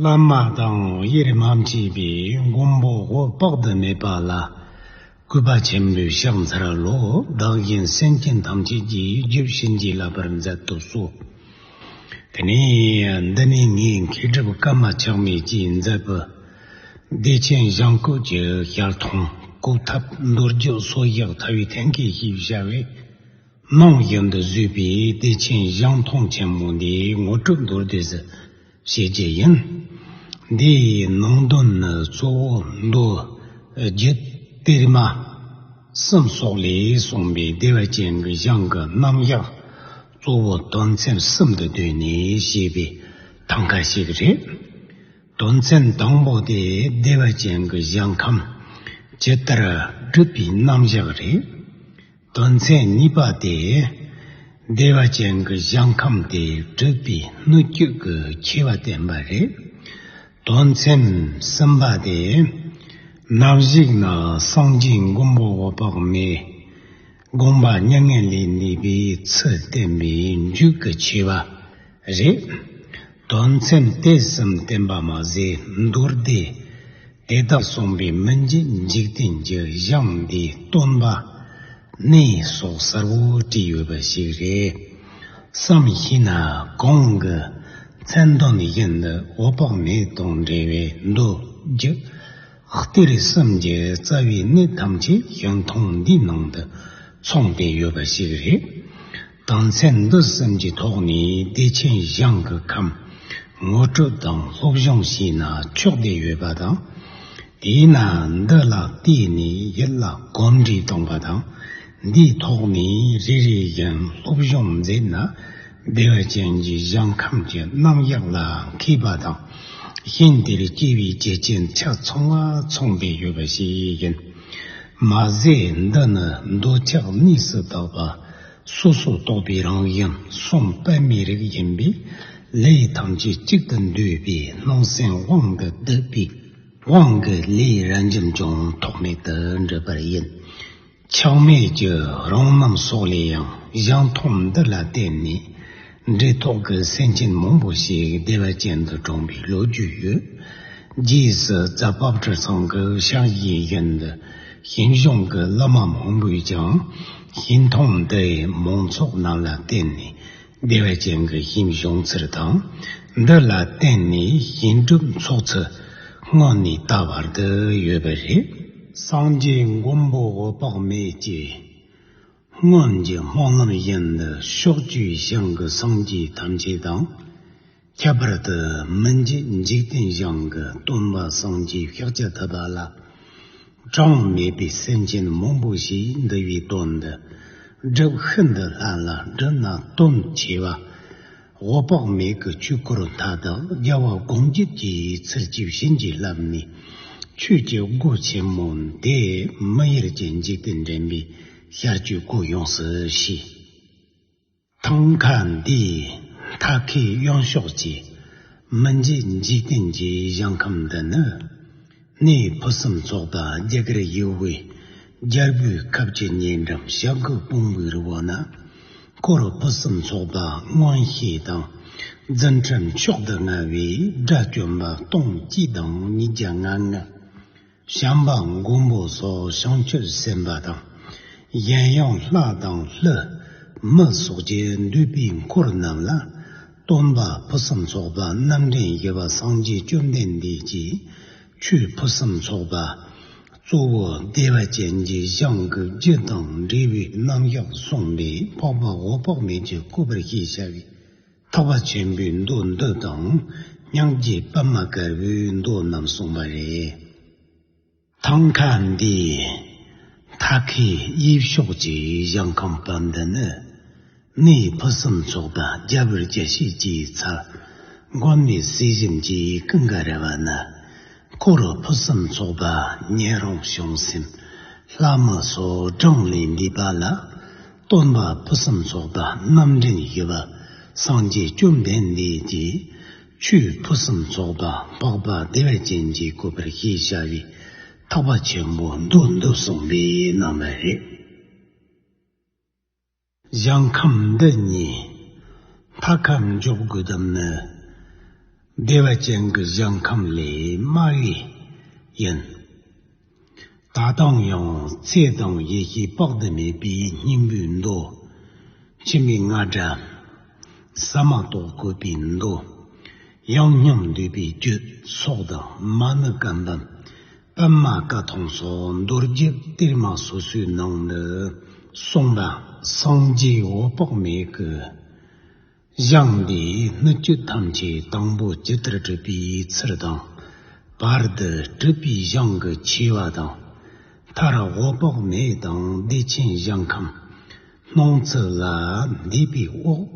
བླ་མ་དང་ཡེ་རེ་མ་མཆིས་པའི་མགོན་པོ་འོད་དཔག་ཏུ་མེད་པ་ལ། སྐུད་པ་ཆེན་པོའི་ཕྱག་མཚར་ལོ་བདག་བཞིན་སེམས་ཅན་ཐམས་ཅད་ཀྱི་རྒྱུད་བྱིན་གྱིས་བརླབ་པར་མཛད་དུ་གསོལ། དེ་ནས་འདི་ནི་ངའི་མཁས་གྲུབ་བཀའ་མ་ཆག་མེད་ཀྱིས་མཛད་པའི། བདེ་ཆེན་གཞང་བཀོད་ཀྱི་ཞལ་མཐོང་སྐུ་ཐབས་མདོ་རྒྱུད་སོ་བཞག་ཐ་བའི་ཐེམ་སྐས་ཞེས་བྱ་བའི། ནང་བཞིན་དུ་བཟོས་པའི་བདེ་ཆེན་གཞང་མཐོང་ཆེན་མོ་འདིའི་ངོ་སྤྲོད་མདོར་བསྡུས་སུ། ཞེས་བརྗོད་ཅིང། འདི་ཡི་ནང་དོན་ནི་གཙོ་བོ་མདོ་རྒྱུད་གཏེར་མ་གསུམ་སོགས་ལས་གསུངས་པའི་བདེ་བ་ཅན་གྱི་གཞུང་གི་རྣམ་གཞག་གཙོ་བོ་དོན་ཚན་གསུམ་དུ་བསྡུས་ནས་བཤད་པའི་ཐང་ག་ཞིག་རེད། དོན་ཚན་དང་པོ་དེ་བདེ་བ་ཅན་གྱི་གཞུང་ཁམས་ཇི་ལྟར་བསྒྲུབས་པའི་རྣམ་གཞག་རེད། དོན་ཚན་གཉིས་པ་སྟེ། བདེ་བ་ཅན་གྱི་གཞན་ཁམས་དེ་སྤྲུལ་པའི་སྣོད་བཅུད་ཀྱི་ཁྱད་པ་བསྟན་པ་རེད། དོན་ཚན་གསུམ་པ་སྟེ། རྣམ་གཞིག་ནི་སངས་རྒྱས་མགོན་པོ་འོད་དཔག་མེད་དགོངས་པ་མྱ་ངན་ལས་འདས་པའི་ཚུལ་བསྟན་པའི་མཇུག་གི་ཆོས་པ་རེད། དོན་ཚན་དེ་གསུམ་བསྟན་པ་མ་ཟད་མདོ་སྡེ་དེ་དག་གསུངས་པའི་མི་མཇེད་འཇིག་རྟེན་གྱི་གཞང་འདིའི་སྟོན་པ་གནས་སོགས་གསར་བུ་བྲིས་ཡོད་པ་ཞིག་རེད་བསམ་གཞིགས་ན་གོང་གི་མཚན་དོན་བཞིན་དུ་འོད་དཔག་མེད་དང་འབྲེལ་བའི་མདོ་རྒྱུད་གཏེར་གསུམ་གྱི་རྩ་བའི་གནད་ཐམས་ཅད་གཞུང་ཐུང་འདིའི་ནང་དུ་མཚུངས་ཏེ་ཡོད་པ་ཞིག་རེད། དང་ཚད་འདུ་གསུམ་གྱི་ཐོག་ནས་བདེ་ཆེན་གཞང་གི་ཁམས་ངོ་སྤྲོད་དང་སློབ་སྦྱོང་བྱས་ན་ཆོག་བསྡད་ཡོད་པ་དང། དེས་ན་འདི་ལ་བལྟས་ནས་ཡིད་ལ་གོམས་འདྲིས་གཏོང་པ་དང། འདིའི་ཐོག་ནས་རེ་རེ་བཞིན་སློབ་སྦྱོང་མཛད་ན་བདེ་བ་ཅན་གྱི་གཞང་ཁམས་ཀྱི་རྣམ་གཞག་ལ་མཁས་པ་དང། གཞན་དེར་སྐྱེ་བའི་རྒྱུ་རྐྱེན་ཆ་ཚང་བ་ཚོགས་འདུས་ཡོད་པ་ཞིག་ཡིན། མ་ཟད་འདི་ནི་འདོད་ཆགས་གནས་སུ་དག་པ། སོ་སོར་རྟོག་པའི་རང་དབྱིངས་གསུམ་པདྨའི་རིགས་ཡིན་པས། ལས་ཐམས་ཅད་གཅིག་ཏུ་འདུས་པའི་སྣང་སེམས་དབང་གིས་བསྡུས་པའི་དབང་གི་ལས་རབ་འབྱམས་ཀྱང་ཐོགས་མེད་དུ་འགྲུབ་པར་ཡིན། ཆགས་མེད་ཀྱི་རང་རྣམ་སོགས་ལས་ཡང་གཞན་མཐོང་འདི་ལ་བརྟེན་ནས། འབྲི་ཐོག་གི་སེང་ཆེན་མང་པོ་ཞིག་སྡེ་བ་ཅན་དུ་བགྲངས་པའི་ལོ་རྒྱུས་ཡོད། རྗེས་སུ་རྫ་བབས་གྲི་ཚང་གི་ཤང་གཞན་བཞིན་དུ་ཞིང་གཞུང་གི་སློབ་མ་མང་པོས་ཀྱང་ཞིང་ཐང་འདིའི་མང་ཚོགས་རྣམས་ལ་བརྟེན་ནས་སྡེ་བ་ཅན་གྱི་ཞིང་གཞུང་ཚུལ་དང་འདི་ལ་བརྟེན་ནས་ཞིང་སྒྲུབ་འཚོགས་ཚུལ་སྔོན་ནས་ད་བར་དུ་ཡོད་པ་རེད། སངས་རྒྱས་མགོན་པོ་འོད་དཔག་མེད་ཀྱིས། སྔོན་གྱི་སྨོན་ལམ་བཞིན་དུ་ཕྱོགས་བཅུའི་ཞིང་གི་སངས་རྒྱས་ཐམས་ཅད་དང། ཁྱད་པར་དུ་མི་མཇེད་འཇིག་རྟེན་ཞིང་གི་སྟོན་པ་སངས་རྒྱས་ཤཱཀྱ་ཐུབ་པ་ལ་གྲངས་མེད་པའི་སེམས་ཅན་མང་པོ་ཞིག་འདུལ་བའི་དོན་འདི་སྒྲུབ་ཤིན་ཏུ་སླ་ལ་འབྲི་ན་སྟོན་ཆེ་བ། འོག་དཔག་མེད་ཀྱི་ཆོས་སྐུ་རུ་མཐའ་དག་རྒྱལ་བ་སྒོམ་བརྒྱུད་ཀྱི་ཚུལ་གྱིས་བྱིན་གྱིས་བརླབས་ནས། ཆོས་ཀྱི་སྒོ་ཆེན་མོ་དེས་མི་ཡུལ་གྱི་འཇིག་རྟེན་འདྲེན་པའི་ཤར་སྐྱོད་སྒོ་ཡོངས་སུ་ཕྱེས། ཐང་ག་འདིས་མཐའ་ཁའི་གཡང་ཕྱོགས་ཀྱི་མི་མཇེད་འཇིག་རྟེན་གྱི་གཞང་ཁམས་འདི་ནི། གནས་ཡི་ཕུ་བསམ་ཚོགས་དང་རྒྱ་གར་ཡུལ་དབུས་རྒྱལ་པོའི་ཁབ་ཀྱི་ཉེ་འགྲམ་ཞབས་མགོ་སྤུངས་བུའི་རི་བོ་ན། ཀོ་རུ་ཕུ་བསམ་ཚོགས་དང་སྔོན་གཤེགས་དང། འཛིན་ཁྲིམས་མཆོག་ཏུ་མངའ་བའི་དགྲ་བཅོམ་པ་སྟོང་སྐྱིད་དང་ཉིས་བརྒྱ་ང་ལྔ། བྱམས་པ་མགོན་པོ་སོགས་བྱང་ཆུབ་སེམས་དཔའ་དང། གཞན་ཡང་ལྷ་དང་ལྷའི་མི་སོགས་ཀྱི་འདུས་པའི་འཁོར་རྣམས་ལ། སྟོང་པ་ཕུན་སུམ་ཚོགས་པ་རྣམ་འདྲེན་རྒྱལ་བ་སངས་རྒྱས་བཅོམ་ལྡན་འདས་ཀྱིས་ཆོས་ཕུན་སུམ་ཚོགས་པ་གཙོ་བོ་བདེ་བ་ཅན་གྱི་གཞང་གི་རྒྱུད་དང་འབྲས་བུའི་རྣམ་གཞག་གསུངས་པས་འཕགས་པ་འོད་དཔག་མེད་ཀྱི་སྐུ་བར་ཤེས་བྱ་བའི་ཐག་པ་ཆེན་པོའི་མདོ་འདི་དང་སྙིང་རྗེའི་པདྨ་དཀར་པོའི་མདོ་རྣམས་གསུངས་པ་རེད། ཐང་ག་འདི་ཐ་ཁའི་དབྱིབས་ཤོག་ཅིག་བཞག་ཁང་པ་འདི་ནི་གནས་ཕུ་གསུམ་ཚོགས་པ་རྒྱ་བོད་རྒྱ་ཤེས་ཀྱི་ཚ་དགོན་པའི་སྲིད་གཞུང་གི་ཀུན་དགའ་རེ་བ་ན་སྐོར་རུ་ཕུ་གསུམ་ཚོགས་པ་ཉན་རང་བྱུང་སེམས་ལྷ་མོ་སོ་བགྲང་ལས་འདས་པ་ལ་སྟོན་པ་ཕུ་གསུམ་ཚོགས་པ་རྣམ་འདྲེན་ཞུ་བ་སངས་རྒྱས་བཅོམ་ལྡན་འདས་ཀྱི་ཆུའི་ཕུན་སུམ་ཚོགས་པ་འཕགས་པ་བདེ་བའི་སྤྱན་གྱིས་བཀོད་པར་ཤེས་བྱ་བའི་ཐག་པ་ཆེན་པོ་མདོ་འདི་གསུངས་པའི་རྣམ་པ་རེད། གཞང་ཁམས་འདི་ཉིད་མཐའ་ཁམས་འཇོག་དགོས་དམ་ནི། བདེ་བ་ཅན་གྱི་གཞང་ཁམས་ལས་དམའ་བས་ཡིན། ད་ལྟའང་ཡང་ཚེ་དང་ཡེ་ཤེས་དཔག་ཏུ་མེད་པའི་སྙིང་པོའི་མདོ། ཕྱི་མའི་རྔ་སྒྲ། ཟ་མ་ཏོག་བཀོད་པའི་མདོ། ཡང་སྙམ་འདོད་པའི་བསྐྱོད་སོགས་དང་མ་ནི་སྐལ་ལྡན་པདྨ་བཀའ་ཐང་སོགས་མདོར་བསྡུས་གཏེར་མ་སོ་སོའི་ནང་ནས་གསུངས་པ། སངས་རྒྱས་འོད་དཔག་མེད་ཀྱི། བཞེངས་ཏེ་སྣོད་བཅུད་ཐམས་ཅད་དང་པོ་ཇི་ལྟར་བསྒྲུབ་པའི་ཚུལ་དང། བར་དུ་སྒྲུབ་པའི་བཞེངས་ཀྱི་ཆེ་བ་དང། མཐར་དབུ་དཔག་མེད་དང་བདེ་ཆེན་བཞེངས་ཁམས། སྣང་ཚུལ་ལ་འདུས་པའི་དབུགས།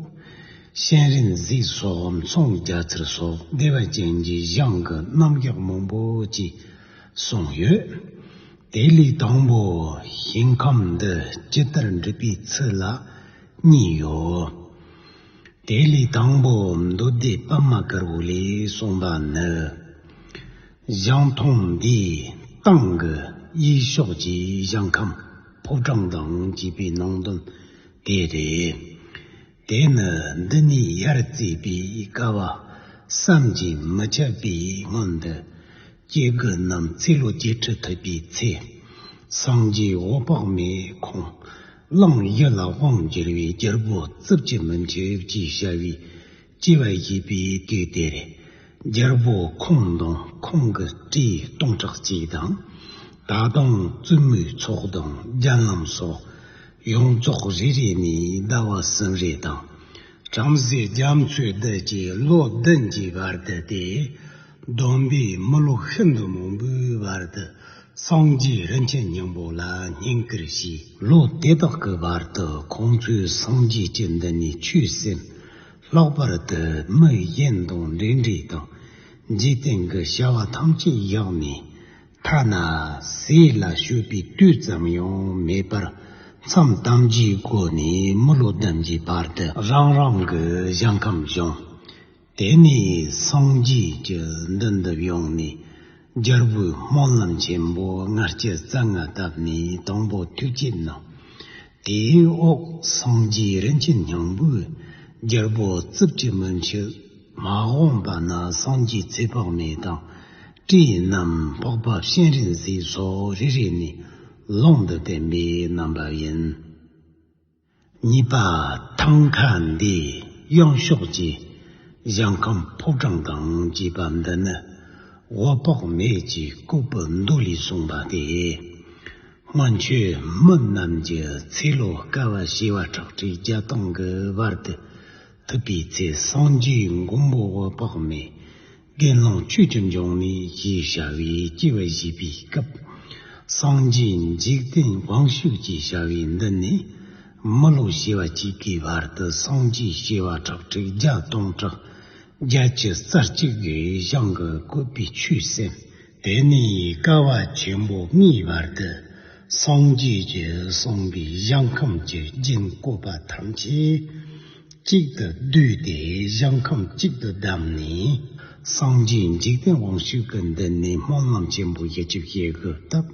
གཤེན་རིག་འཛིན་སོགས་མཚུངས་རྒྱ་མཚར་སོགས་བདེ་བ་ཅན་གྱི་བཞེངས་ཀྱི་རྣམ་གཞག་མང་པོ་བཅས་གསུངས་ཡོད། དེ་ལས་དང་པོ་བཞེངས་ཁམས་འདི་ཇི་ལྟར་འགྲུབ་པའི་ཚུལ་ལ། གཉིས་ཡོད། དེ་ལས་དང་པོ་མདོ་སྡེ་པདྨ་དཀར་པོ་ལས་གསུངས་པ་ནི། གཞང་ཐང་འདི་ཏང་གི་དབྱེ་ཕྱོགས་ཀྱི་གཞང་ཁམས་ཕོ་བྲང་དང་བཅས་པའི་ནང་དོན་དེ་རེད། དེ་ནི་འདི་ནས་ཡར་བརྩིས་པའི་ཀ་བ་བསམ་གྱིས་མི་ཁྱབ་པའི་སྔོན་དུ། སྐྱེ་རྒུ་རྣམས་ཚེ་ལོ་བརྒྱད་ཁྲི་ཐུབ་པའི་ཚེ། སངས་རྒྱས་འོད་དཔག་མེད་ཁོང་གླང་གཡས་ལ་དབང་བསྒྱུར་བའི་རྒྱལ་པོ་རྩིབས་ཀྱི་མི་མཆོད་ཅེས་བྱ་བའི་སྐྱེ་བ་བཞེས་པའི་དུས་དེར། རྒྱལ་པོ་ཁོང་དང་ཁོང་གི་སྤྲེའུ་སྟོང་ཕྲག་གཅིག་དང། ད་དང་བཙུན་མོའི་ཚོགས་དང་རྒྱལ་རྣམས་སོ། ཡོངས་རྫོགས་རེ་རེ་ནས་ཟླ་བ་གསུམ་རེ་དང། བྲམ་ཟེ་རྒྱ་མཚོའི་རྡུལ་གྱིས་བློ་བདུན་གྱི་བར་དུ་སྟེ། སྡོམ་པའི་མི་ལོ་ཤིན་ཏུ་མང་པོའི་བར་དུ་སངས་རྒྱས་རིན་ཆེན་སྙིང་པོ་ལ་སྙིང་ཀིར་བྱས། ལོ་དེ་དག་གི་བར་དུ་ཁོང་ཚོའི་སངས་རྒྱས་སྤྱི་འདི་ནས་ཆོས་སེམས་ལྷག་པར་དུ་མི་གཞན་དང་འབྲེལ་འདྲིས་དང་འཇིག་རྟེན་གྱི་བྱ་བ་ཐམས་ཅད་བཞག་ནས། ཐ་ན་ཟས་ལ་ཞུགས་པའི་དུས་ཙམ་ཡང་མེད་པར་མཚམས་གཏམ་བརྗེའི་སྒོ་ནས་མི་ལོ་བདུན་གྱི་བར་དུ་རང་རང་གི་ཞིང་ཁམས་བཞེངས། དེ་ནས་སངས་རྒྱས་ཀྱི་མདུན་དུ་བཞུགས་ནས་རྒྱལ་པོའི་སྨོན་ལམ་ཆེན་པོ་ལྔ་སྤྱི་རྩ་ལྔ་བཏབ་ནས་དང་པོ་ཐུགས་བསྐྱེད་གནང། དེའི་འོག་སངས་རྒྱས་རིན་ཆེན་སྙིང་པོས་རྒྱལ་པོ་རྩིབས་ཀྱི་མུ་འཁྱུད་མ་དབང་པ་ན་སངས་རྒྱས་ཚེ་དཔག་མེད་དང། བཀྲིས་རྣམས་ཕོག་པ་གཤེན་རིག་འཛིན་སོགས་རེ་རེ་ནས་ལུང་དུ་བསྟན་པའི་རྣམ་པ་ཡིན། གཉིས་པ། ཐང་ག་འདི་གཡང་ཤོག་ཅེས་གཞང་ཁམས་ཕོ་བྲང་གང་ཅེས་པ་འདི་ནི་དབུ་ཕོག་མེད་ཀྱི་ལྐུགས་པའི་མདོ་ལས་གསུངས་པ་སྟེ། སྔོན་ཆོས་མི་རྣམས་ཀྱི་ཚེ་ལོ་སྐལ་བ་བྱེ་བ་ཁྲག་ཁྲིག་བརྒྱ་སྟོང་གི་བར་དུ་ཐུབ་པའི་ཚེ་སངས་རྒྱས་མགོན་པོ་དབུ་ཕོག་མེད་དགེ་སློང་ཁྱོད་ཀྱི་འབྱུང་གནས་ཀྱི་བྱ་བའི་སྐྱེ་བ་བཞི་པའི་སྐབས། སངས་རྒྱས་འཇིག་རྟེན་དབང་ཕྱུག་གི་བྱ་བའི་མདུན་ནས། མི་ལོ་བྱེ་བ་གཅིག་གི་བར་དུ་སངས་རྒྱས་བྱེ་བ་ཁྲག་ཁྲིག་བརྒྱ་སྟོང་ཕྲག་བརྒྱད་ཅུ་རྩ་གཅིག་གིས་བཤང་གི་བཀོད་པའི་ཆོས་གསན། དེ་ནས་ཀ་བ་ཆེན་པོ་ལྔའི་བར་དུ་སངས་རྒྱས་ཀྱིས་གསུངས་པའི་གཞང་ཁམས་ཀྱི་རྒྱན་བཀོད་པ་ཐམས་ཅད་གཅིག་ཏུ་བསྡུས་ཏེ་གཞང་ཁམས་གཅིག་ཏུ་བསྡམས་ནས། སངས་རྒྱས་འཇིག་རྟེན་དབང་ཕྱུག་གི་འདི་ནས་སྨོན་ལམ་ཆེན་པོ་བཞི་བཅུ་བཤད་དགོས་སྟབས།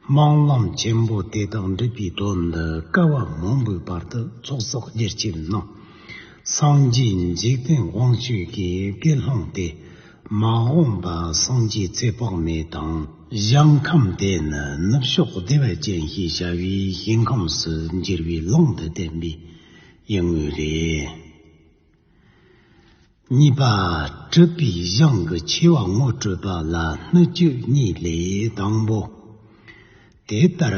སྨོན་ལམ་ཆེན་པོ་དེ་དག་འགྲུབ་པའི་དོན་དུ་ཀ་བ་མང་པོའི་བར་དུ་ཚོགས་བསགས་བསྒྱུར་བྱས་ནས། སངས་རྒྱས་འཇིག་རྟེན་དབང་ཕྱུག་གི་བཀའི་ལྷུང་དེ་མ་འོངས་པ་སངས་རྒྱས་ཚེ་དཔག་མེད་དང། གཞན་ཁམས་དེ་ནི་ནུབ་ཕྱོགས་བདེ་བ་ཅན་ཞེས་བྱ་བའི་ཞིང་ཁམས་སུ་འགྱུར་བའི་ལུང་དུ་བསྟན་པས་ཡིན་ངོས་རེད། གཉིས་པ། སྤྲུལ་པའི་གཞུང་གི་ཆེ་བ་ངོ་སྤྲོད་པ་ལ་སྣོད་བཅུད་གཉིས་ལས་དང་པོ། དེ་ལྟར་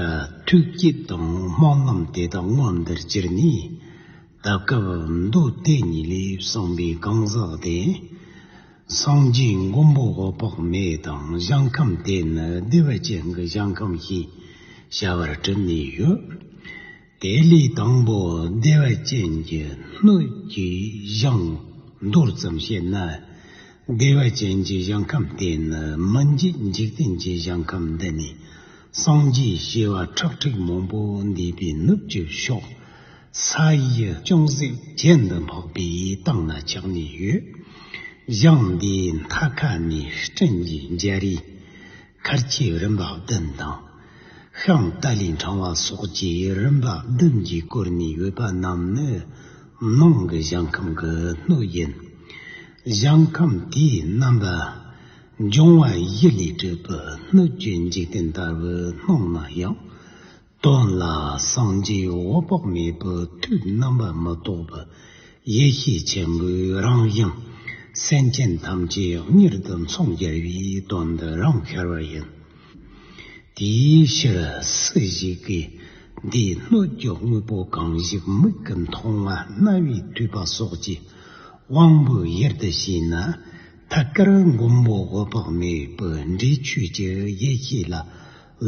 ཐུགས་བསྐྱེད་དང་སྨོན་ལམ་དེ་དག་སྔོན་འདིར་སྤྱིར་ནི། ད་སྐབས་མདོ་སྡེ་ཉིད་ལས་གསུངས་པའི་གང་ཟག་སྟེ། སངས་རྒྱས་མགོན་པོ་འོད་དཔག་མེད་དང་གཞང་ཁམས་དེ་ནི་བདེ་བ་ཅན་གྱི་གཞང་ཁམས་ཞེས་བྱ་བར་གྲུབ་ནས་ཡོད། དེ་ལས་དང་པོ་བདེ་བ་ཅན་གྱི་སྣོད་ཀྱི་གཞང། མདོར་ཙམ་བཤད་ན། བདེ་བ་ཅན་གྱི་གཞང་ཁམས་དེ་ནི་མི་མཇེད་འཇིག་རྟེན་གྱི་གཞང་ཁམས་འདི་ནི། སངས་རྒྱས་བྱེ་བ་ཁྲག་ཁྲིག་མང་པོ་འདུས་པའི་ནུབ་ཀྱི་ཕྱོགས། ས་ཡི་ཅུང་ཟད་བརྒྱད་འདུ་འཕགས་པའི་སྟེང་ན་ཆགས་ནས་ཡོད། གཞང་འདིའི་མཐའ་ཁ་ནས་སྤྲིན་གྱི་འཇའ་རིས། མཁར་གྱི་རིམ་པ་བདུན་དང། ཤིང་རྟ་ལས་འཕྲང་བ་སོགས་ཀྱི་རིམ་པ་བདུན་གྱིས་བསྐོར་ནས་ཡོད་པ་རྣམས་ནི་ནང་གི་ཞིང་ཁམས་ཀྱི་སྣོད་ཡིན། ཞིང་ཁམས་དེའི་རྣམ་པ། འབྱུང་བ་བཞི་ལས་གྲུབ་པའི་སྣོད་བཅུད་འཇིག་རྟེན་ལྟ་བུའི་སྣང་ན་ཡང། སྟོང་ལ་སངས་རྒྱས་འོད་དཔག་མེད་པོ་ཐུགས་རྣམ་པར་མི་རྟོག་པ། ཡེ་ཤེས་ཆེན་པོའི་རང་བཞིན། སེམས་ཅན་ཐམས་ཅད་གཉེར་དུ་མཚུངས་རྒྱལ་བའི་དོན་འདི་རང་ཤར་བ་ཡིན། དེའི་ཕྱིར་སུ་ཞིག་གིས་འདིའི་སྣོད་ཀྱི་དངོས་པོ་གང་ཞིག་མིག་གི་མཐོང་བ་རྣ་བས་ཐོས་པ་སོགས་ཀྱི་དབང་པོའི་དབྱེར་དུ་བྱས་ན། ཐད་ཀར་མགོན་པོ་འོད་དཔག་མེད་པོའི་འབྲས་ཆོས་ཀྱི་ཡེ་ཤེས་ལ།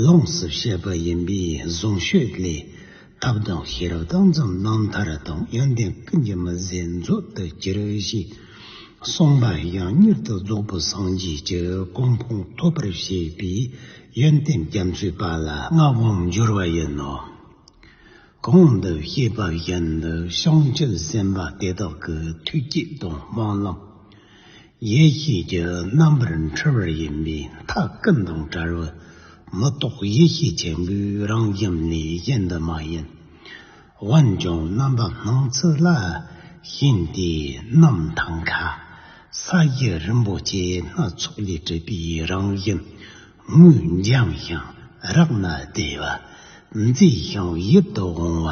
ལོངས་སུ་སྤྱད་པ་ཡིན་པས་གཟུངས་ཤོད་ལས། ཐབས་དང་ཤེས་རབ་དང་འཛམ་གླིང་མཐར་དང་ཡོན་ཏན་ཀུན་གྱི་མི་ཟད་མཛོད་དུ་གྱུར་ཞེས་གསུངས་པ་ཡང་མྱུར་དུ་རྫོགས་པའི་སངས་རྒྱས་ཀྱི་གོ་འཕང་ཐོབ་པར་བྱེད་པའི་ཡོན་ཏན་རྒྱ་མཚོའི་པ་ལ་མངའ་དབང་འབྱོར་བ་ཡིན་ནོ། གོང་དུ་བཤད་པ་བཞིན་དུ་བྱང་ཆུབ་སེམས་དཔའ་དེ་དག་གི་ཐུགས་བསྐྱེད་དང་སྨོན་ལམ། ཡེ་ཤེས་ཀྱི་རྣམ་པར་འཕྲུལ་བ་ཡིན་པས་མཐའ་ཀུན་དང་བྲལ་བའི་མི་རྟོག་ཡེ་ཤེས་ཆེན་པོའི་རང་བཞིན་ལས་གཞན་དུ་མ་ཡིན། འོན་ཀྱང་རྣམ་པ་སྣང་ཚུལ་ལ་བྱིན་ཏེ་རྣམ་ཐར་མཁའ་ས་གཞི་རིན་པོ་ཆེ་སྣ་ཚོགས་ལས་གྲུབ་པའི་རང་བཞིན་དངུལ་འཇམ་ཞིང་རག་ན་བདེ་བ། མཛེས་ཤིང་ཡིད་དུ་འོང་བ།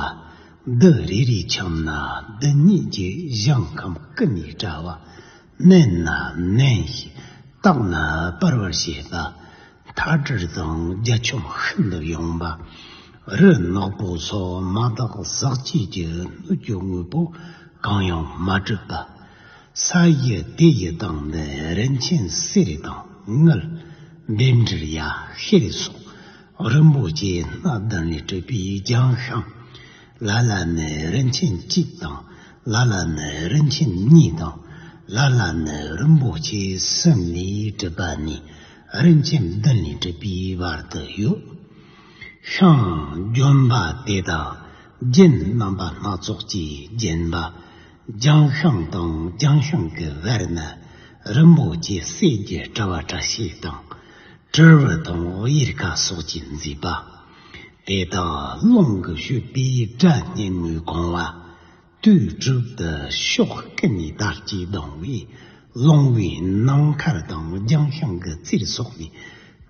རྡུལ་རེ་རེའི་ཁྱམས་ན་རྡུལ་སྙེད་ཀྱི་གཞང་ཁམས་ཀུན་ནས་བཀྲ་བ། བསྣན་ན་བསྣན་ཞིང་བཏགས་ན་སྤར་བར་བྱེད་པ། མཐའ་གྲིར་དང་རྒྱ་ཁྱོམ་ཤིན་ཏུ་ཡངས་པ། རི་ནག་པོ་སོགས་མ་དག་ཟག་བཅས་ཀྱི་སྣོད་ཀྱི་དངོས་པོ་གང་ཡང་མ་གྲུབ་པ། ས་ཡི་སྡེ་ཡི་དང་ནི་རིན་ཆེན་གསེར་རི་དང་དངུལ། འདེབས་འདྲིལ་ཡ་ཧེ་རི་སོགས་རིན་པོ་ཆེ་སྣ་བདུན་ལས་གྲུབ་པའི་རྒྱང་ཤམ། ལ་ལ་ནི་རིན་ཆེན་གཅིག་དང་ལ་ལ་ནི་རིན་ཆེན་གཉིས་དང། ལ་ལ་ནི་རིན་པོ་ཆེ་གསུམ་ལས་གྲུབ་པ་ནི་རིན་ཆེན་བདུན་ལས་གྲུབ་པའི་བར་དུ་ཡོད། ཤིང། ལྗོན་པ་དེ་དག་རྒྱན་རྣམ་པ་སྣ་ཚོགས་ཀྱིས་བརྒྱན་པ། རྒྱང་ཤང་དང་རྒྱང་ཤང་གི་བར་ན་རིན་པོ་ཆེ་གསེར་གྱི་དྲ་བ་དྲ་ཞིག་དང། དྲིལ་བུ་དང་གཡེར་ཁ་སོགས་ཀྱིས་མཛེས་པ། དེ་དག་རླུང་གི་བཤུལ་པས་སྒྲ་སྙན་མོས་གང་བ། དུས་དྲུག་ཏུ་ཕྱོགས་སྐེ་ནས་དར་གྱིས་ལྡང་བས་ལོང་བའི་ནམ་མཁར་དང་རྒྱང་ཤང་གི་རྩེར་སོགས་ནས་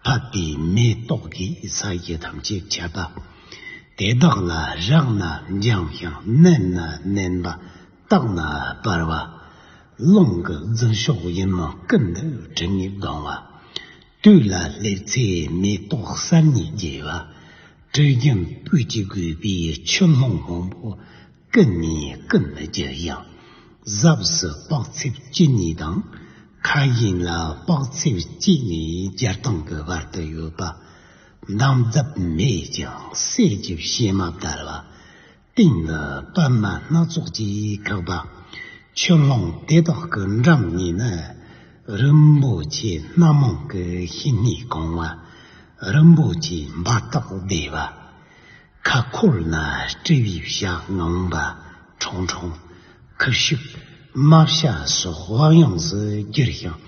ཕབ་པའི་མེ་ཏོག་གིས་ས་གཞི་ཐམས་ཅད་ཁྱབ་པ། དེ་དག་ལ་བཞག་ན་འགྱངས་ཤིང་མནན་ན་ནན་པ། བཏགས་ན་སྤར་བ། རླུང་གི་རྫི་ཤོག་ཡིན་མོ་སྐུ་འདི་དྲི་ངད་ལྡང་བ། དུས་ལ་སླེབས་ཚེ་མེ་ཏོག་གསར་རྙིད་རྒྱས་པ། དྲི་རྒྱུན་སྤུས་ཀྱིས་བསྒོས་པའི་ཆུ་ཀླུང་མང་པོ། སྐུ་ནས་སྐུ་འདི་རྒྱུ་ཞིང་གཟབས་སུ་དཔག་ཚད་བཅུ་གཉིས་དང། ཁ་གཞན་ལ་དཔག་ཚད་གཅིག་ནས་བརྒྱར་སྟོང་གི་བར་དུ་ཡོད་པ། མདངས་བརྡབ་མེད་ཀྱང་གསེར་གྱི་གཤེད་མ་ལྟར་བ། སྟེང་དུ་པདྨ་སྣ་ཚོགས་ཀྱིས་བཀག་པ། ཆུ་ཀླུང་དེ་དག་གི་འགྲམ་གཉིས་ནི། རིན་པོ་ཆེའི་སྣ་མང་གི་ཤིང་ནི་གང་བ། རིན་པོ་ཆེའི་འབར་ཐག་བདེ་བ། ཁ་ཁོལ་ན་སྤྲེའུའི་ཞགས་ངང་པ་ཁྲོང་ཁྲོང། ཁུ་བྱུག་རྨ་བྱ་སོགས་དབང་ཡོངས་སུ་གྱུར་ཞིང་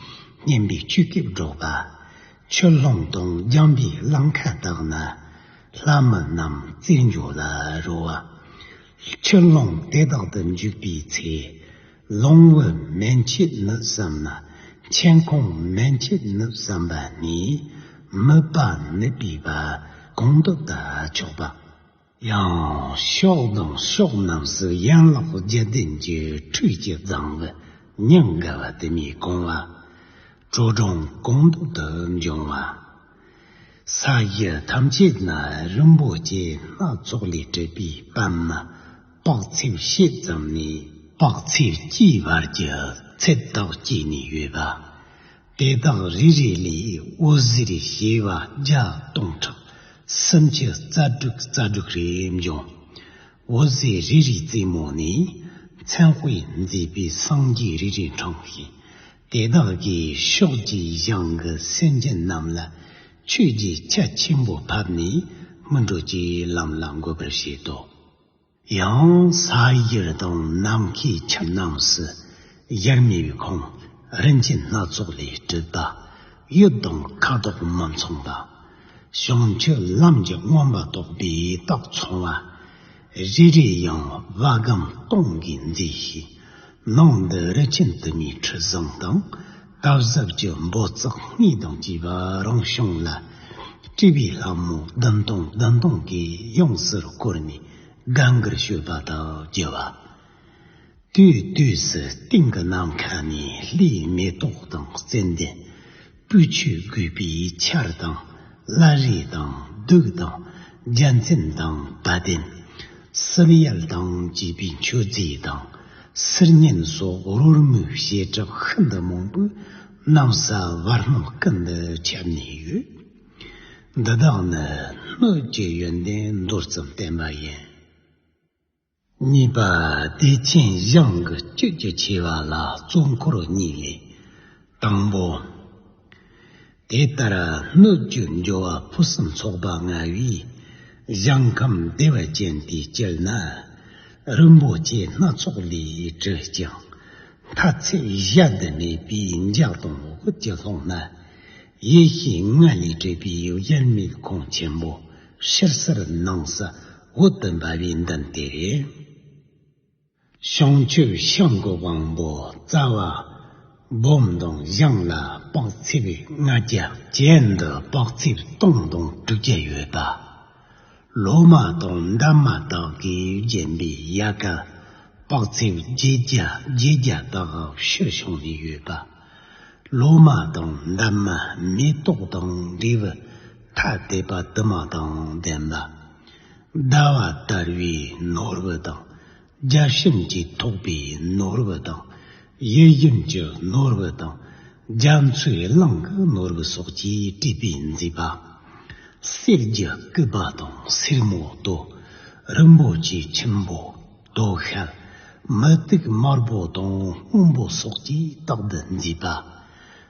སྙན་པའི་ཆུ་སྐྱེས་སྒྲོགས་པ། ཆུ་ལྷོངས་དང་རྒྱང་པའི་རླངས་ཁ་དག་ན་ལྷ་མི་རྣམས་རྩེད་འཇོ་ལ་རོལ་བ། ཆུ་ལྷོངས་དེ་དག་ཏུ་འཇུག་པའི་ཚེ། ལོང་བུ་མན་ཆད་ནུབ་བསམས་ན་མཆན་ཁུང་མན་ཆད་ནུབ་བསམས་པ་ནི། མིད་པ་ནུབ་པའི་བ་གང་དུ་བལྟ་ཆོག་པ། ཡང་ཕྱོགས་དང་ཕྱོགས་རྣམས་སུ་ཡན་ལག་བརྒྱད་ལྡན་གྱི་ཁྲུས་ཀྱི་རྫིང་བུ་སྙིང་ག་བ་དུ་མས་གང་བ། དྲོད་གྲང་གང་འདོད་དུ་འབྱུང་བ། ས་གཞི་ཐམས་ཅད་ན་རིན་པོ་ཆེ་སྣ་ཚོགས་ལས་གྲུབ་པའི་པདྨ་དཔག་ཚད་བཤད་ཙམ་ནས། དཔག་ཚད་ཀྱི་བར་གྱི་ཚད་དག་བསྐྱེད་ནས་ཡོད་པ། དེ་དག་རེ་རེ་ལས་དབུ་གཟེར་ཞེས་པ་བརྒྱ་སྟོང་ཕྲག་སུམ་ཅུ་རྩ་དྲུག་རྩ་དྲུག་རེ་འབྱུང། དབུ་གཟེར་རེ་རེའི་རྩེ་མོ་ནས་མཚན་དཔེས་མཛེས་པའི་སངས་རྒྱས་རེ་རེ་འཕྲང་ཞིང། དེ་དག་གིས་ཕྱོགས་བཅུའི་གཞང་གི་སེམས་ཅན་རྣམས་ལ་ཆོས་ཀྱི་ཆ་ཆེན་པོ་ཕབ་ནས་སྨིན་གྲོལ་གྱི་ལམ་ལ་འགོད་པར་བྱེད་དོ། ཡང་སྭཱ་ཡི་རི་དྭགས་ནམ་མཁའི་ཁྱིམ་རྣམས་སུ་དབྱར་མེ་བའི་ཁོང་རིན་ཅེན་སྣ་ཚོགས་ལས་གྲུབ་པ། གཡུ་དང་ཁ་དོག་མ་མཚུངས་པ། བྱང་ཆུབ་ལམ་གྱི་མངོན་པར་རྟོགས་པའི་རྟགས་མཚུངས་བ། རེ་རེ་ཡང་བ་གམ་སྟོང་གིས་མཛེས་ཤིང། ནང་དུ་རི་ཆེན་དུ་མའི་ཁྲི་བཟང་དང། སྟག་གཟིག་གི་འབོ་རྩེག་གཉིས་དང་བཅས་པ་རང་བྱུང་ལ་སྤྲས་པའི་ལྷ་མོ་བདུན་སྟོང་བདུན་སྟོང་གིས་ཡོངས་སུ་བསྐོར་ནས་དགའ་མགུར་བྱོས་པ་དག་རྒྱུ་བ། དུས་དུས་སུ་སྟེང་གི་ནམ་མཁའ་ནས་ལྷའི་མེ་ཏོག་དང་རྩྭའི་གདན། སྤོས་ཆུས་བསྒོས་པའི་ཆར་དང་བླ་རེས་དང་བདུག་དང་རྒྱ་མཚན་དང་བ་དན། གསེར་ཡལ་དང་བཅས་པའི་མཆོད་རྫས་དང་གསེར་སྙན་སོགས་རོལ་མོའི་བཤད་གྲབས་ཤིན་ཏུ་མང་པོས་གནམ་ས་བར་སྣང་ཀུན་ཏུ་ཁྱབ་ནས་ཡོད། འདི་དག་ནི་སྣོད་ཀྱི་ཡོན་ཏན་མདོར་ཙམ་བསྟན་པ་ཡིན། གཉིས་པ་བདེ་ཆེན་གཞུང་གི་བཅུད་ཀྱི་ཆེ་བ་ལ་གཙོ་འཁོར་གཉིས་ལས། དང་པོ། དེ་ལྟར་སྣོད་བཅུད་འབྱོར་བ་ཕུན་སུམ་ཚོགས་པ་མངའ་བས། གཞང་ཁམས་བདེ་བ་ཅན་དེ་སྤྱིར་ན། རིན་པོ་ཆེ་སྣ་ཚོགས་ལས་བྲིས་ཀྱང། མཐའ་ཚད་གཞལ་འདི་མེད་པས་འཇག་དང་འོག་གི་ཀློང་ན། ཡེ་ཤེས་ལྔ་ལས་གྲུབ་པའི་དབྱར་མེད་ཁང་ཆེན་པོ་ཕྱིར་གསར་སྣང་ས་འོག་ཏུ་འབར་བའི་མདུན་དེ་རེད། བྱང་ཆུབ་ཤིང་གི་དབང་པོ་རྩ་བ། སྦོམ་དང་བཞེངས་ལ་དཔག་ཚད་ལྔ་བརྒྱ། གྱེན་དུ་དཔག་ཚད་སྟོང་དང་དྲུག་བརྒྱ་ཡོད་པ། ལོ་མ་དང་འདབ་མ་དག་གིས་བརྒྱན་པའི་ཡལ་ག་དཔག་ཚད་བརྒྱད་བརྒྱ་བརྒྱད་བརྒྱ་དག་ཕྱིར་བྱུང་ནས་ཡོད་པ། ལོ་མ་དང་འདབ་མ་མེ་ཏོག་དང་འབྲས་བུ་ཐ་དད་པ་དུ་མ་དང་ལྡན་པ། ཟླ་བ་ལྟར་བའི་ནོར་བུ་དང་རྒྱ་ཤིང་གི་ཐོག་པའི་ནོར་བུ་དང། གཡས་གཡོན་གྱི་ནོར་བུ་དང། རྒྱ་མཚོའི་གླིང་གི་ནོར་བུ་སོགས་ཀྱིས་སྤྲས་པའི་མཛེས་པ། གསེར་གྱི་སྐུད་པ་དང་སེར་མོ་ཏོ། རིན་པོ་ཆེའི་ཁྱིམ་པོ། ཏོ་ཤལ། མུ་ཏིག་དམར་པོ་དང་སྔོན་པོ་སོགས་ཀྱིས་རྟག་ཏུ་མཛེས་པ།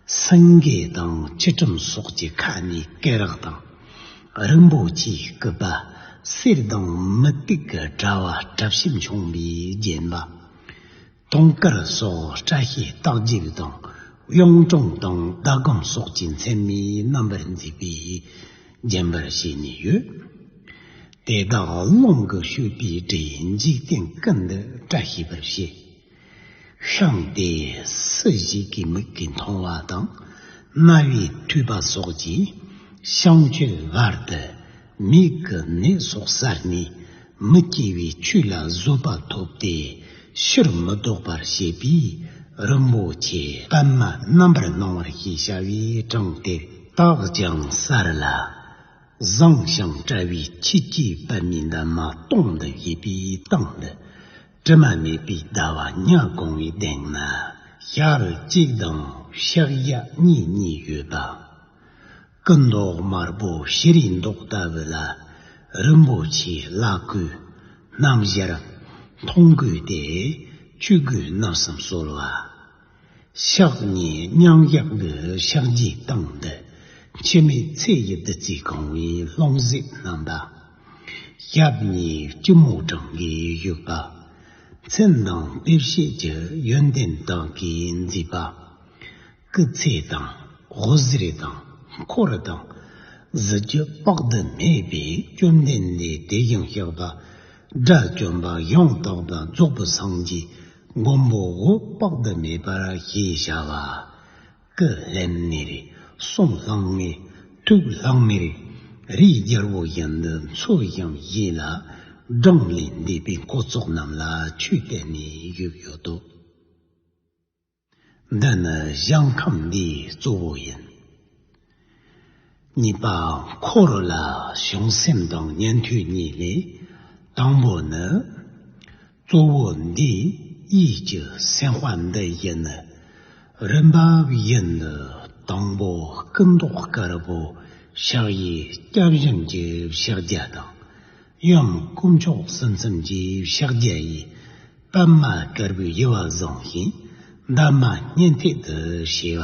སངས་རྒྱས་དང་ཆུ་ཁྲོམ་སོགས་ཀྱི་ཁ་ནས་སྐེ་རགས་དང། རིན་པོ་ཆེའི་སྐུད་པ། གསེར་ལྡང་མུ་ཏིག་གི་དྲ་བ་བྲབ་ཞིམ་ཆུང་བས་བརྒྱན་པ། དུང་དཀར་སོགས་བཀྲ་ཤིས་རྟགས་བརྒྱད་དང། གཡུང་དྲུང་དང་ཟླ་སྒོམ་སོགས་ཀྱི་མཚན་མའི་རྣམ་པར་མཛེས་པས་བརྒྱན་པར་བྱས་ནས་ཡོད། དེ་དག་རླུང་གིས་བསྐྱོད་པའི་སྒྲས་འཇིག་རྟེན་ཀུན་ཏུ་བཀྲ་ཤིས་པར་བྱེད། ཤོང་སྟེ་སུ་ཞིག་གི་མིག་གི་མཐོང་བ་དང་རྣ་བའི་མཐུས་པ་སོགས་ཀྱི་བཤང་ཆུའི་བར་དུ་མིག་གི་ནད་སོགས་གསར་ནས་མི་སྐྱེ་བའི་ཆོས་ལ་བཟོད་པ་ཐོབ་སྟེ་ཕྱིར་མི་ལྡོག་པར་བྱེད་པས་རིན་པོ་ཆེ་པདྨ་རྣམ་པར་སྣང་བར་ཞེས་བྱ་བའི་གྲངས་དེ་དག་ཀྱང་གསར་ལ། བཟང་ཞིང་བཀྲ་བའི་ཕྱི་སྐྱེས་པདྨའི་འདབ་མ་སྟོང་དུ་བྱེད་པའི་སྟེང་དུ། དྲི་མ་མེད་པའི་ཟླ་བ་ཉག་གོང་བའི་སྟེང་ན་ཤར་གཅིག་དང་ཤར་གཡག་གཉིས་གཉིས་ཡོད་པ། སྐུ་མདོག་དམར་པོ་ཤི་རི་མདོག་ལྟ་བུ་ལ་རིན་པོ་ཆེའི་བླ་སྐུ། སྣམ་ཞལ། མཐོང་གོས་ཏེ་ཆོས་གོས་བརྣབས་སམ་གསོལ་བ། ཕྱག་གཉིས་སྙིང་གཡག་གི་ཕྱག་རྒྱས་བཏང་སྟེ། འཆི་མེད་ཚེ་ཡི་བདུད་རྩིས་གང་བའི་ལྷུང་བཟེད་བསྣམས་པ། ཞབས་གཉིས་སྐྱིལ་མོ་ཀྲང་གིས་བཞུགས་པ། མཚན་དང་དཔེ་བྱད་ཀྱི་ཡོན་ཏན་དག་གིས་མཛེས་པ། སྐུ་ཚེ་དང་ཧོར་གཟེར་དང་འཁོར་དང་གཟི་བརྗིད་དཔག་ཏུ་མེད་པས་བཅོམ་ལྡན་འདས་དེ་བཞིན་གཤེགས་པ་དགྲ་བཅོམ་པ་ཡང་དག་པར་རྫོགས་པར་སངས་རྒྱས། མགོན་པོ་འོད་དཔག་ཟླ་མེད་པར་ཞེས་བྱ་བ། ཀཱི་ལྷན་ནི་རི་གསུམ་ལྷག་མེད་ཐུགས་ལྷག་མེད། རིའི་རྒྱལ་པོ་གཞན་དུ་འཚོ་ཞིང་གཞེས་ལ། སྦྲང་ལས་འདས་པའི་འཁོར་ཚོགས་རྣམས་ལ་ཆོས་གཏད་ནས་བཞུགས་ཡོད་དོ། འདི་ནི་གཞང་ཁམས་འདིའི་གཙོ་བོ་ཡིན། གཉིས་པ་འཁོར་རོ་ལ་བྱུང་སེམས་དང་ཉན་ཐོས་གཉིས་ལས། དང་པོ་ནི། གཙོ་བོ་འདིས་ཡིད་ཀྱི་སེམས་དཔའ་འདི་ཡིན། རིམ་པ་བཞིན་དུ་དང་པོ་སྐུ་མདོག་དཀར་པོ་ཕྱག་གཡས་སྐྱབས་སྦྱིན་གྱི་ཕྱག་རྒྱ་དང། གཡོན་དཀོན་མཆོག་སེམས་གསུམ་གྱི་ཕྱག་རྒྱ་ཡིས་པདྨ་དཀར་པོའི་དབྱེ་བ་བཟུང་ཞིང། འདབ་མ་སྙན་ཐིག་ཏུ་བྱས་པ།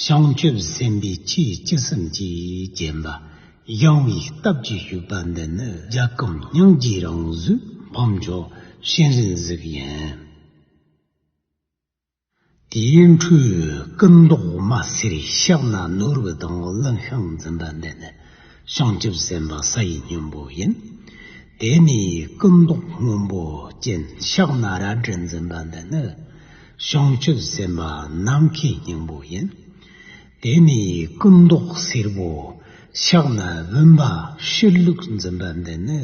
བྱང་ཆུབ་སེམས་དཔའི་ཆོས་སྤྱི་གསུམ་གྱིས་བརྒྱན་པ། གཞུང་བའི་སྟབས་ཀྱིས་བཞུགས་པ་འདི་ནི་རྒྱ་སྐུམ་སྙིང་རྗེའི་རང་གཟུགས་འཕོ་མཆོག་གཤེན་རིའི་གཟུགས་ཡིན། དེའི་འཕྲུལ་སྐུ་མདོག་དམར་སེར་ཤག་ན་ནོར་བུ་དང་གླིང་ཤིང་འཛིན་པ་འདི་ནི་བྱང་ཆུབ་སེམས་དཔའ་ས་ཡི་སྙིང་པོ་ཡིན། དེ་ནས་སྐུ་མདོག་སྔོན་པོ་ཅན་ཤག་ན་རལ་གྲི་འཛིན་པ་འདི་ནི་བྱང་ཆུབ་སེམས་དཔའ་ནམ་མཁའི་སྙིང་པོ་ཡིན། དེ་ནས་སྐུ་མདོག་སེར་པོ་ཤག་ན་བུམ་པ་ཤེར་ལུགས་འཛིན་པ་འདི་ནི་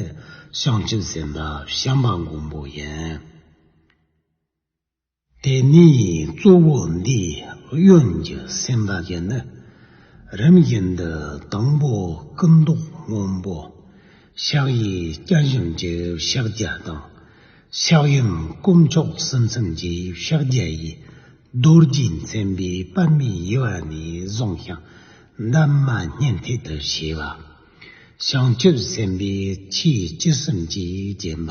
བྱང་ཆུབ་སེམས་དཔའ་བྱམས་པ་མགོན་པོ་ཡིན། དེ་ནི་གཙོ་བོ་འདི་གཡོན་གྱི་སེམས་དག་གིས་ནི། རིམ་བཞིན་དུ་དང་པོ་སྐུ་མདོག་སྔོན་པོ། ཕྱག་གཡས་སྐྱ་བཞིན་གྱི་ཕྱག་རྒྱ་དང། ཕྱག་གཡོན་དཀོན་མཆོག་སེམས་སེམས་ཀྱི་ཕྱག་རྒྱ་ཡིས། རྡོ་རྗེ་མཚན་པའི་པདྨའི་དབྱེ་བ་ནས་བཟུང་ཞིང་འདབ་མ་སྙན་ཐིག་ཏུ་བྱས་པ། བྱང་ཆུབ་སེམས་དཔའི་ཆོས་སྤྱི་གསུམ་གྱིས་བརྒྱན་པ།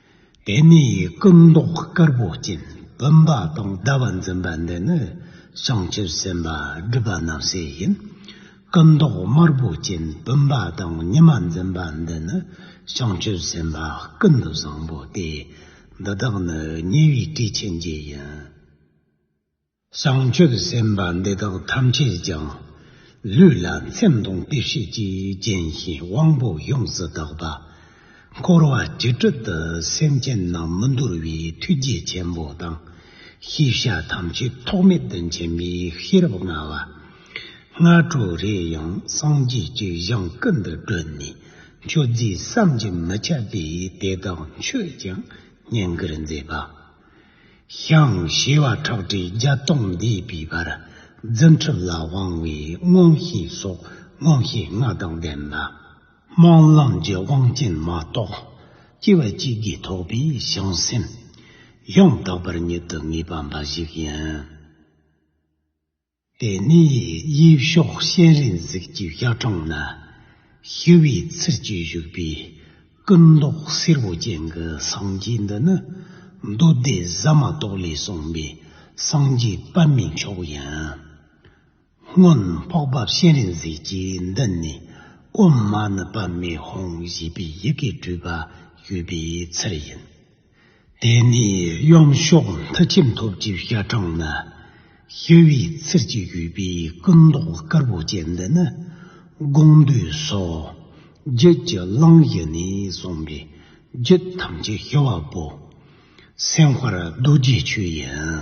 དེ་ནས་སྐུ་མདོག་དཀར་པོ་སྤྱན་བུམ་པ་དང་ཟླ་བ་འཛིན་པ་འདི་ནི་བྱང་ཆུབ་སེམས་དཔའ་སྒྲུབ་པ་རྣམས་སའི་ཡིན། སྐུ་མདོག་དམར་པོ་སྤྱན་བུམ་པ་དང་ཉི་མ་འཛིན་པ་འདི་ནི་བྱང་ཆུབ་སེམས་དཔའ་ཀུན་ཏུ་བཟང་པོ་སྟེ། འདི་དག་ནི་ཉེ་བའི་སྐྱེས་ཆེན་བརྒྱད་ཡིན། བྱང་ཆུབ་སེམས་དཔའ་འདི་དག་ཐམས་ཅད་ཀྱང། ལུས་ལ་མཚན་དང་དཔེ་བྱད་ཀྱིས་བརྒྱན་ཞིང་དབང་པོ་ཡོངས་སུ་དག་པ། འཁོར་བ་བཅུ་དྲུག་ཏུ་སེམས་ཅན་རྣམས་མི་འདོར་བའི་ཐུགས་རྗེ་ཆེན་པོ་དང། ཤེས་བྱ་ཐམས་ཅད་ཐོགས་མེད་དུ་མཁྱེན་པའི་ཤེས་རབ་མངའ་བ། སྔ་དྲོ་རེ་ཡང་སངས་རྒྱས་ཀྱི་གཞང་སྐུ་འདི་བཀྲོལ་ནས་མཆོད་རྫས་བསམ་གྱིས་མི་ཁྱབ་པས་དེ་དག་མཆོད་ཅིང་བསྙེན་བཀུར་མཛད་པ། ཤངས་ཞེས་བ་ཁྲག་དྲི་བརྒྱ་སྟོང་བཟླས་པའི་བར་རྫུ་འཕྲུལ་ལ་དབང་བའི་མངོན་ཤེས་སོགས་མངོན་ཤེས་ལྔ་དང་ལྡན་ལ། སྨོན་ལམ་གྱི་དབང་རྐྱེན་མ་གཏོགས་སྐྱེ་བ་གཅིག་གིས་ཐོགས་པའི་བྱང་སེམས། ཡང་དག་པར་ཉིད་དུ་ངེས་པ་འབའ་ཞིག་ཡིན། དེ་ནས་དབྱིབས་ཤོག་ཤན་རིང་གཟིགས་ཀྱི་ཤ་ཁྲག་ན་ཞི་བའི་ཚུལ་གྱིས་བཞུགས་པའི་སྐུ་མདོག་སེར་པོ་ཅན་གྱི་སངས་རྒྱས་འདི་ནི་མདོ་སྡེ་ཟ་མ་ཏོག་ལས་གསུངས་པའི་སངས་རྒྱས་པདྨའི་མཆོག་ཡིན། སྔོན་འཕགས་པ་ཤན་རིང་གཟིགས་ཀྱིས་འདི་ནས་དབུ་མ་ནི་པདྨའི་ཧོང་ཞེས་པའི་ཡི་གེ་སྤྲུལ་པ་ཞུས་པའི་ཚུལ་ཡིན། དེ་ནས་གཡོན་ཕྱོགས་མཐིལ་ཆེམས་ཐོབ་ཀྱི་ཤ་ཁྲག་ནི། ཤི་བའི་ཚུལ་གྱིས་བཞུས་པའི་སྐུ་མདོག་དཀར་པོ་ཅན་འདི་ནི། དགོངས་འདུས་སོ། རྒྱུད་ཀྱི་གླིང་བཞི་ནས་གསུངས་པའི་རྒྱུད་ཐམས་ཅད་ཤི་བ་པོ། སེམས་དཔར་རྡོ་རྗེའི་ཆོས་ཡིན།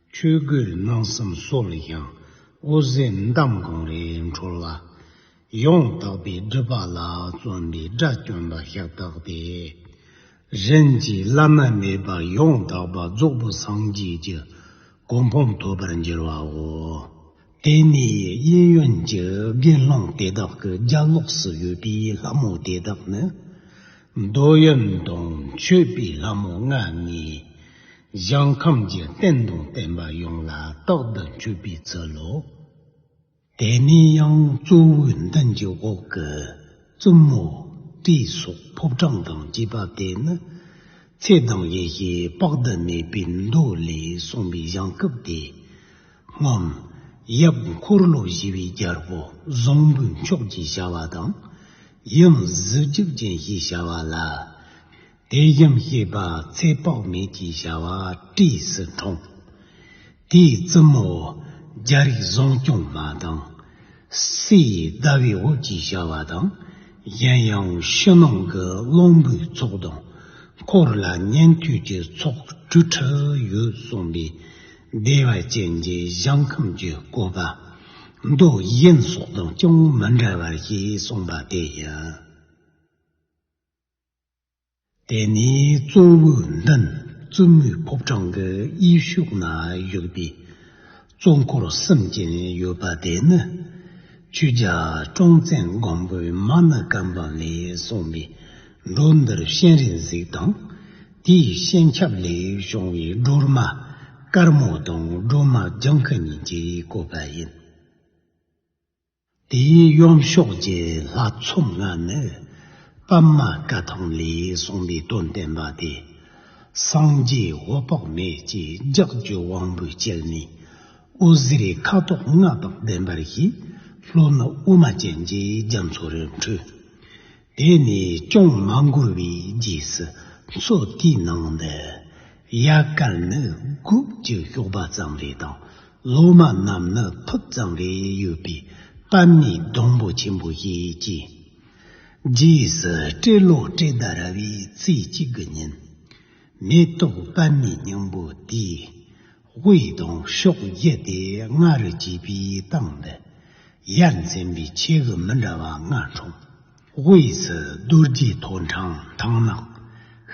ཆོས་གོས་གནང་བསམ་སོགས་ལ་ཡང་དབུ་ཟན་འདམ་གང་རེ་འཕྲོ་ལ། ཡང་དག་པའི་སྒྲུབ་པ་ལ་བརྩོན་པའི་དགྲ་བཅོམ་པ་ཤ་སྟག་སྟེ། རིན་ཆེན་བླ་མ་མེད་པ་ཡང་དག་པ་རྫོགས་པ་སངས་རྒྱས་ཀྱི་གོ་འཕང་ཐོབ་པར་འགྱུར་བའོ། དེ་ནས་གཡས་གཡོན་གྱི་དགེ་སློང་དེ་དག་གི་རྒྱ་ལོགས་སུ་ཡོད་པའི་ལྷ་མོ་དེ་དག་ནི། འདོད་ཡོན་དང་མཆོད་པའི་ལྷ་མོ་ལྔ་ལྔས་གཞན་ཁམས་ཀྱི་རྟེན་དང་བརྟེན་པ་ཡོངས་ལ་རྟག་ཏུ་མཆོད་པའི་ཚུལ་ལོ། དེ་ནས་ཡང་གཙོ་བོའི་མདུན་གྱི་འོག་གི་བཙུན་མོ་སྤྲེའི་སོགས་ཕོ་བྲང་དང་བཅས་པ་དེ་ནི། ཚེ་དང་ཡེ་ཤེས་དཔག་ཏུ་མེད་པའི་མདོ་ལས་གསུངས་པའི་བྱང་སྐབས་ཏེ། སྔགས། ཡབ་འཁོར་ལོ་བཞི་པའི་རྒྱལ་པོ་བཟང་པོའི་མཆོག་ཅེས་བྱ་བ་དང། ཡང་གཟི་བརྗིད་ཅན་ཞེས་བྱ་བ་ལ། དེ་བཞིན་གཤེགས་པ་ཚེ་དཔག་མེད་ཅེས་བྱ་བ་བཀྲེས་སུ་འཁྲུངས། དེའི་བཙུན་མོ། རྒྱ་རིགས་བཟང་སྐྱོང་མ་དང། སྲས་ཟླ་བའི་འོད་ཅེས་བྱ་བ་དང། གཞན་ཡང་ཕྱི་ནང་གི་གླང་པོའི་ཚོགས་དང། འཁོར་ལ་ཉན་ཐོས་ཀྱི་ཚོགས་བཅུ་ཁྲི་ཡོད་གསུངས་པས། བདེ་བ་ཅན་གྱི་གཞང་ཁམས་ཀྱི་བཀོད་པ། མདོག་གཞན་སོགས་དང་ཅུང་མི་འདྲ་བ་ཞེས་གསུངས་པ་དེ་ཡིན། དེ་ནས་གཙོ་བོའི་མདུན་བཙུན་མོའི་ཕོ་བྲང་གི་དབྱིབས་གཞུག་ན་བཞུགས་པའི་གཙོ་འཁོར་གསུམ་ཅན་ཡོད་པ་དེ་ནི། ཆོས་རྒྱལ་ཀྲོང་བཙན་སྒམ་པོའི་མ་ཎི་སྐམ་པོ་ལས་གསུངས་པའི། འགྲོ་འདིར་གཤེན་རིགས་གཟིགས་དང། དེའི་གཤེན་ཆབ་ལས་བྱུང་བའི་སྒྲོལ་མ་དཀར་མོ་དང་སྒྲོལ་མ་ལྗང་ཁུ་གཉིས་ཀྱིས་བསྐོས་པ་ཡིན། དེའི་གཡོན་ཕྱོགས་ཀྱི་ལྷ་ཚོམ་ལྔ་ནི། པདྨ་སྐ་ཐང་ལས་གསུངས་པའི་དོན་བསྟན་པ་སྟེ། སངས་རྒྱས་འོད་དཔག་མེད་ཀྱི་ལྗགས་བརྒྱུད་དབང་པོའི་དཀྱིལ་ནས། དབུ་གཟི་རའི་ཁ་དོག་ལྔ་དང་ལྡན་པར་བཞེད། ལྷོ་ནུབ་དབུ་མ་ཅན་གྱི་རྒྱ་མཚོ་རུ་འཕྲོས། དེ་ནས་ཅོང་མ་འགུར་བའི་རྗེས་སུ་མཚོ་དེའི་ནང་དུ་གཡག་སྐར་ནི་སྒུག་ཅིང་ཞོགས་པ་ཙམ་རེ་དང་ལོ་མ་རྣམས་ནི་ཐུབ་ཙམ་རེ་ཡོད་པའི་པད་མའི་སྡོང་པོ་ཆེན་པོ་ཞིག་སྐྱེས། རྗེས་སུ་སྤྲེལ་ལོ་སྤྲེལ་ཟླ་ར་བའི་ཚེས་གཅིག་གི་ཉིན། མེ་ཏོག་པད་མའི་སྙིང་པོ་དེས་དབུ་ཡི་གདོང་གཤོག་བརྒྱད་དེ་ལྔ་རུ་བརྗིད་པའི་སྟངས་འདི། ཡར་འཛིན་པའི་ཆས་གོས་མི་འདྲ་བ་ལྔ་འཁྲུངས། དབུ་ཡི་སི་རྡོ་རྗེ་ཐོ་འཕྲང་ཐང་ནག།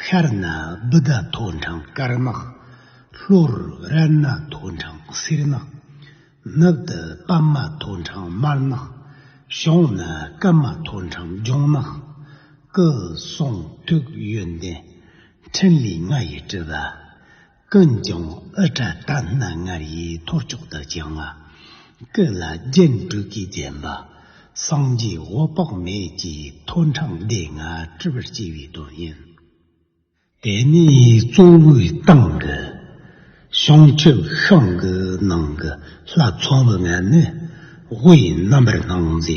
ཤར་ན་བུ་ད་ཐོ་འཕྲང་དཀར་ནག། ལྷོར་རལ་ན་ཐོ་འཕྲང་སེར་ནག། ནུབ་ཏུ་པདྨ་ཐོ་འཕྲང་དམར་ནག། བྱང་ན་སྐར་མ་ཐོ་འཕྲང་ལྗང་ནག། སྐུ་གསུང་ཐུགས་ཡོན་ཏན་འཕྲིན་ལས་ལྔ་ཡི་སྤྲུལ་པ། ཀུན་ཀྱང་ཨི་ཏྲ་ཏ་སྣ་ལྔར་ཡི་ཐོར་ཅོག་ལྟར་བརྐྱང་བ། སྐུ་ལ་རྒྱན་དྲུག་གིས་བརྒྱན་པ། སངས་རྒྱས་འོད་དཔག་མེད་ཀྱི་ཐོད་འཕྲང་བདེ་མངའ་སྤྲུལ་པར་བསྐྱེད་པའི་དོན་ཡིན། དེ་ནས་གཙོ་བོའི་སྟེང་གི་བྱང་ཆུབ་ཤིང་གི་ནང་གི་ལྷ་ཚོགས་ལྔ་ནི་དབུའི་རྣམ་པར་སྣང་མཛད་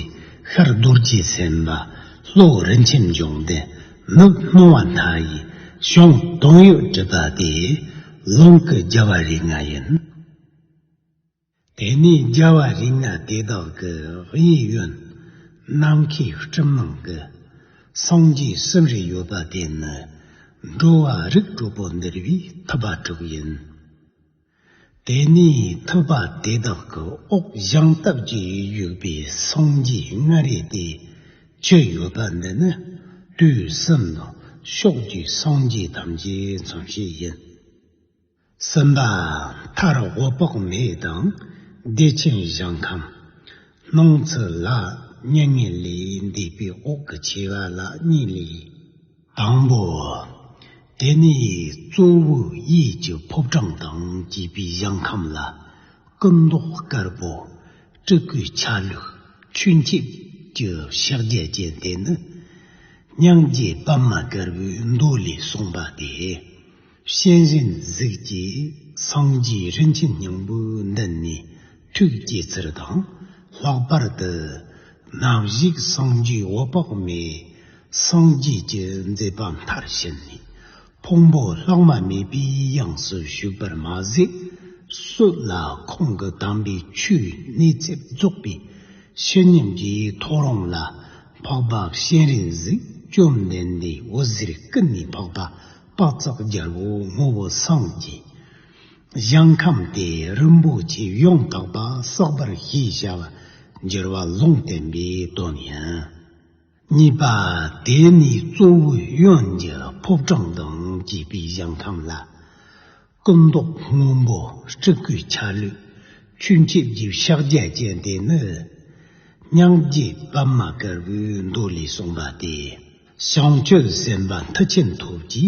ཤར་རྡོ་རྗེ་སེམས་དཔའ་ལྷོར་རིན་ཆེན་འབྱུང་ལྡན། ནུབ་རྨོ་བ་སྣ་ཡི་གཤོང་སྡོང་གཡུ་འབྲུག་དག་དེ་རླུང་གི་རྒྱལ་བ་རིགས་ལྔ་ཡིན། དེ་ནས་རྒྱལ་བ་རིགས་ལྔ་དེ་དག་གི་དབྱིག་གཡོན་ནམ་མཁའི་སྤྲིན་ནང་གི་སངས་རྒྱས་གསུམ་རེ་ཡོད་པ་དེ་ནི་འགྲོ་བ་རིགས་དྲུག་པོ་འདུལ་བའི་ཐུབ་པ་དྲུག་ཡིན། དེ་ནི་ཐུབ་པ་དེ་དག་གི་དབུགས་བཞེངས་སྟབས་ཀྱིས་དབྱུག་པའི་སངས་རྒྱས་ལྔ་རེ་དེ་བཅུ་ཡོད་པ་འདི་ནི་དུས་གསུམ་དང་ཕྱོགས་བཅུའི་སངས་རྒྱས་ཐམས་ཅད་མཚོན་བྱེད་ཡིན། གསུམ་པ། མཐར་དབུ་དཔག་མེད་དང་བདེ་ཆེན་གཞང་ཁམས། སྣང་ཚུལ་ལ་གཉིས་ངེས་ལས་འདས་པའི་དབུགས་ཀྱི་ཆེ་བ་ལ་གཉིས་ལས། དང་པོའོ། དེ་ནི་གཙོ་བོ་ཡིད་ཀྱི་ཕོབ་གྲངས་དང་བཅས་པའི་གཞང་ཁམས་ལ། སྐུ་མདོག་དཀར་པོ། སྤྲུལ་སྐུའི་ཆ་ལུགས་ཆུ་འཁྱིལ་གྱི་ཕྱག་རྒྱ་ཅན་དེ་ནི། སྙིང་རྗེ་པདྨ་དཀར་པོའི་མདོ་ལས་གསུངས་པ་སྟེ། གཤེན་གཤེན་གཟིགས་ཀྱི་སངས་རྒྱས་རིན་ཆེན་སྙིང་པོ་འདི་ནི་ཐུགས་བསྐྱེད་ཚུལ་དང་ལྷག་པར་དུ། ནག་གཞུག་སངས་རྒྱས་འོད་དཔག་མེད་སངས་རྒྱས་ཀྱི་མཛད་པ་མཐར་ཕྱིན་ནས་ཕུང་པོ་ལྷག་མ་མེད་པའི་དབྱིངས་སུ་ཞུགས་པར་མ་ཟད། སུ་ལ་ཁོང་གི་དམ་པའི་ཆོས་གནས་ཚད་རྫོགས་པའི་ཕྱིར་ཉམས་ཀྱི་ཐོ་རངས་ལ་འཕགས་པ་གཤེན་རིན་གཟིགས་བཅོམ་ལྡན་འདས་འོད་ཟེར་ཀུན་ནས་འཕགས་པ་དཔག་ཚགས་རྒྱལ་པོ་ངོ་བོ་སངས་རྒྱས། གཞན་ཁམས་ཏེ་རིན་པོ་ཆེ་ཡོངས་དག་པ་བསགས་པར་ཞེས་བྱ་བ་སྦྱོར་བ་ལུང་བསྟན་པའི་དོན་ཡིན། གཉིས་པ་དེ་ནི་གཙོ་བོའི་གཡོན་གྱི་ཕོ་བྲང་དང་བཅས་པའི་གཞན་ཁམས་ལ། སྐུ་མདོག་སྔོན་པོ་སྤྲུལ་སྐུའི་ཆ་ལུགས། ཁྱུ་མཆེད་བརྒྱད་ཕྱག་རྒྱ་ཅན་དེ་ནི། སྙིང་རྗེ་པདྨ་དཀར་པོའི་མདོ་ལས་གསུངས་པ་སྟེ། བྱང་ཆུབ་སེམས་དཔའ་མཐུ་ཆེན་ཐུགས་ཀྱི་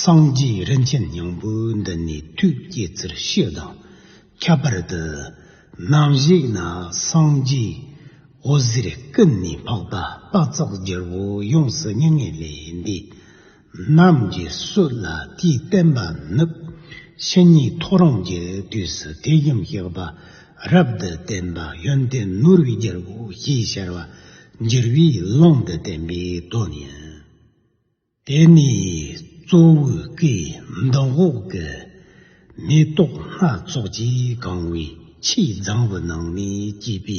སངས་རྒྱས་རིན་ཆེན་སྙིང་པོ་འདི་ནི་ཐུགས་བསྐྱེད་ཚུལ་ཤེས་དང་ཁྱད་པར་དུ། སྣང་བཞེངས་ན་སངས་རྒྱས་འོད་ཟེར་ཀུན་ནས་འཕགས་པ་དཔག་ཚགས་བསྒྱུར་བོ་ཡོངས་སུ་སྙིང་ངེ་ལས་འདས། རྣམས་ཀྱི་སྲོད་ལ་དེའི་བསྟན་པ་ནུབ། ཕྱི་ཉིན་ཐོ་རངས་ཀྱི་དུས་སུ་ཐེག་ཡུམ་གཤེགས་པ་རབ་ཏུ་བརྟན་པ་ཡོན་ཏན་ནོར་བུའི་རྒྱལ་པོ་ཞེས་ཤར་བ་འགྱུར་བའི་ཀློང་དུ་བསྟན་པའི་དོན་ཡིན། དེ་ནས་གཙོ་བོའི་སྐུའི་མདོག་འོག་གི་མེ་ཏོག་སྣ་ཚོགས་ཀྱིས་གང་བའི་ཕྱིའི་ལྗང་བུ་ནང་ནས་སྐྱེས་པའི་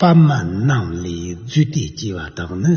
པདྨ་རྣམས་ལས་རྫུས་ཏེ་སྐྱེ་བ་དག་ནི།